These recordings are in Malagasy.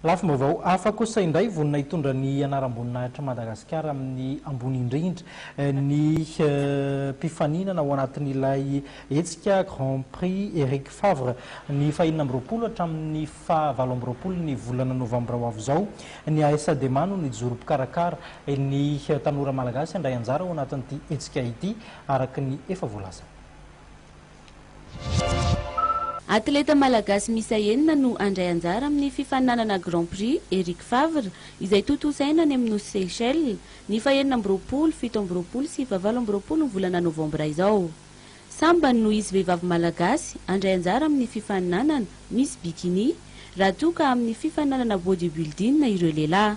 Lafim-baovao hafa kosa indray vonona hitondra ny anaram-boninahitr'i Madagasikara amin'ny ambony indrindra ny mpifaninana ao anatin'ilay hetsika Grand Prix Eric Favre ny fahenina amby roapolo hatramin'ny faha valo amby roapolo ny volana novambra ho avy izao. Ny ASDMA no nijoro mpikarakara. Ny tanora malagasy handray anjara ao anatin'ity hetsika ity araka ny efa voalazany. Atleta malagasy miisa enina no handray anjara amin'ny fifaninanana Grand Prix Eric Favre izay tontosaina any amin'ny nosy Seychelles ny fahenina amby roapolo, fito amby roapolo sy fahavalo amby roapolo ny volana novambra izao. Sambany no hisy vehivavy malagasy handray anjara amin'ny fifaninanana Miss Bikini raha toa ka amin'ny fifaninanana Bodybuilding ireo lehilahy.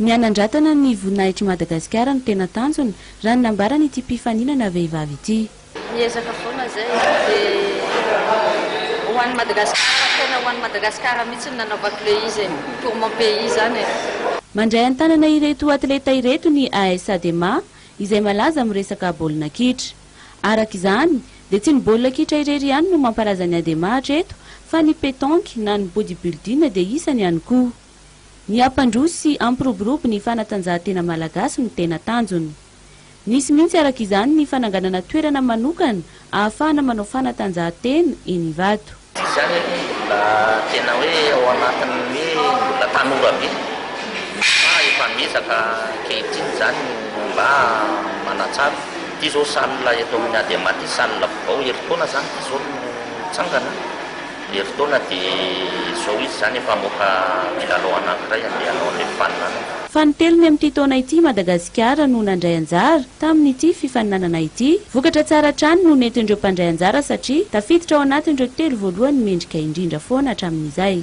Ny hanandratana ny voninahitr'i Madagasikara no tena tanjona, raha ny nambaran'ity mpifaninana vehivavy ity. Miezaka foana izay e, dia ho an'i Madagasikara, tena ho an'i Madagasikara mihitsy no nanaovako ilay izy e, pour mon pays izany e. Mandray an-tanana ireto atleta ireto ny AS Adema, izay malaza amin'ny resaka baolina kitra. Araka izany, dia tsy ny baolina kitra irery ihany no mampalaza an'i Adema hatreto, fa ny petanque na ny bodybuilding dia isany ihany koa. Ny hampandroso sy hampiroborobo ny fanatanjahantena malagasy no tena tanjony. Nisy mihitsy araka izany ny fananganana toerana manokana ahafahana manao fanatanjahantena eny Ivato. Tsy izany anie ny mbola tena hoe ao anatin'ny hoe mbola tanora be fa efa miezaka ankehitriny izany ny mba manatsara. Ity izao salle eto amin'ny Adema ity, salle vao herintaona izany ity izao no nitsangana. Herintaona dia izao izy izany efa hamoaka milalao anankiray handeha hanao an'ilay faninanana. Fanintelony amin'ity taona ity i Madagasikara no nandray anjara tamin'ity fifaninanana ity. Vokatra tsara hatrany no nentin'ireo mpandray anjara satria tafiditra ao anatin'ireo telo voalohany mendrika indrindra foana hatramin'izay.